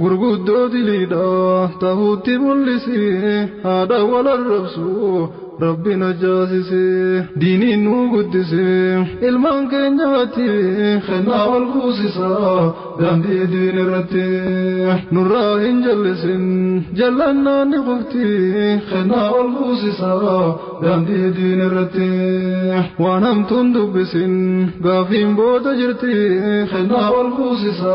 gurguddoo diliidha tahuutti mul'isi haadha wal arrabsu rabbi najaasise diiniin nuu guddise ilmaan keenyaatti kennaa wal kuusisa daandii diin irratti nurraa hin jallisin jallannaan ni qufti kennaa wal kuusisa daandii diin irratti waan hamtuun dubbisin gaafiin booda jirti kennaa wal kuusisa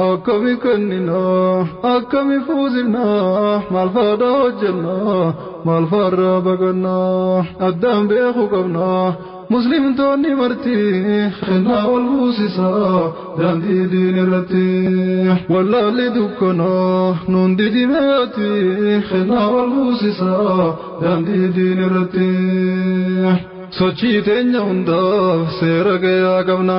Akkami kennina akkami fuusifna maal faadha hojjenna maal faarra baqanna addaan beeku qabna muslimtoonni marti kennaa ol fuusisa daandii diin irratti wallaalli dukkana nuun didimeeti kennaa ol fuusisa daandii diin irratti sochii teenya hundaaf seera gayaa qabna.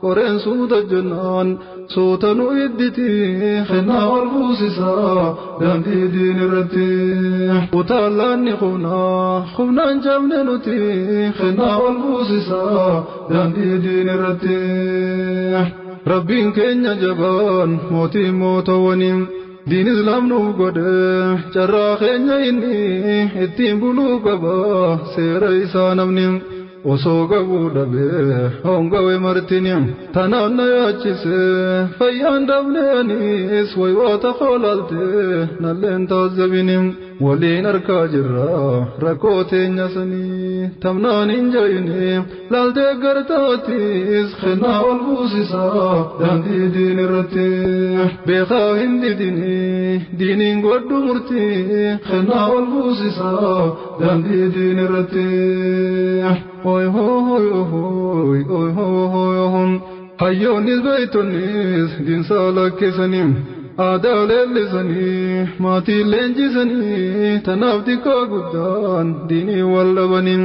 Koreen suuta jennaan suuta nu idditi kennaa ol fuusisa daandii diin irratti. Utaalaan ni qubna qubnaan cabne nuti kennaa ol fuusisa daandii diin irratti. Rabbiin keenya jabaan mootii mootawwanii. Diin islaam nu godhe carraa keenya inni ittiin buluu qaba seera isaa namni osoo qabuu dhabe hongawe martini tanaan na yaachise fayyaan dhabne anis waywaata koolaalte nalleen taazabini waliin arkaa jirra rakkoo teenya sanii tamnaan hin jayine Laal deeggartaatis kennaa ol buusisaa daandii diin irratti beekaa hin didini diiniin godhu murtii kennaa ol buusisaa daandii diin irratti. Oy hooy hooy oy hooy hooy hayyoonnis beektonnis diinsaa lakkisanii aadaa leellisanii maatii leenjisanii tanaaf xiqqaa guddaan diinii wal dhabanii.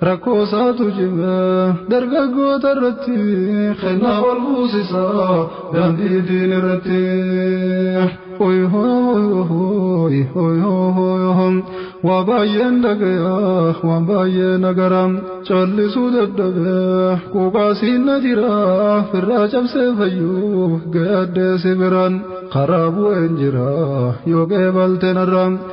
Rakkoo isaatu cime dargaggoota irratti kennaa ol buusisa daandii diin irratti. Waa baay'een dhagaya waan baay'ee nagara callisuu dadhabe quuqaasiin na jira firraa cabsee fayyuu gayaddee si biraan karaa bu'een jira yoo qeebalte narra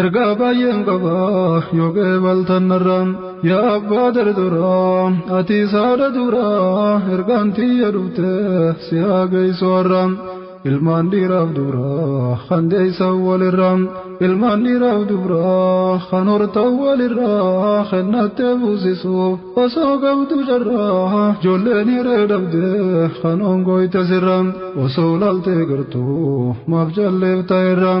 Ergaa baay'een qaba yoo qeebaltan narraan yaa abbaa darduraa ati isaadha duraa ergaan tiyya dhufte si haa geessu har'aan ilmaan dhiiraaf duraa kan deessan walirraa ilmaan dhiiraaf duraa kan hortan walirraa kennattee fuusisuuf osoo qabdu carraa ijoolleen hiree dhabde kan ongooyte sirraa osoo laaltee gartuu maaf jalleef ta'erraa.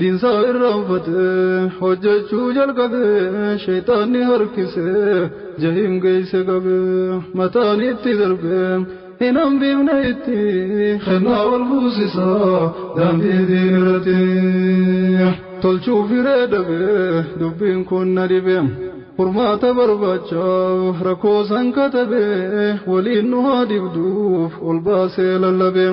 Diinsaa irraa uffatee hojjechuu jalqabee sheexaanni harkisee jahiim geeyse qabee mataan itti darbee hin hambifne itti kennaa wal fuusisaa daandii diin irratti tolchuu firee dhabee dubbiin kun na dhibee furmaata barbaachaaf rakkoo san katabee waliin nu haa dhibduuf ol baasee lallabee.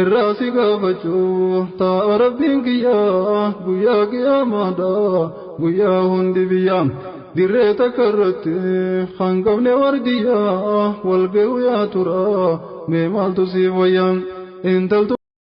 irraa si gaafachuu taa'a rabbiin kiyyaa guyyaa qiyaamaadhaa guyyaa hundi biyyaa dirree takka irratti kan qabne wardiyyaa wal ga'u yaa tura mee maaltu siif wayyaa intaltu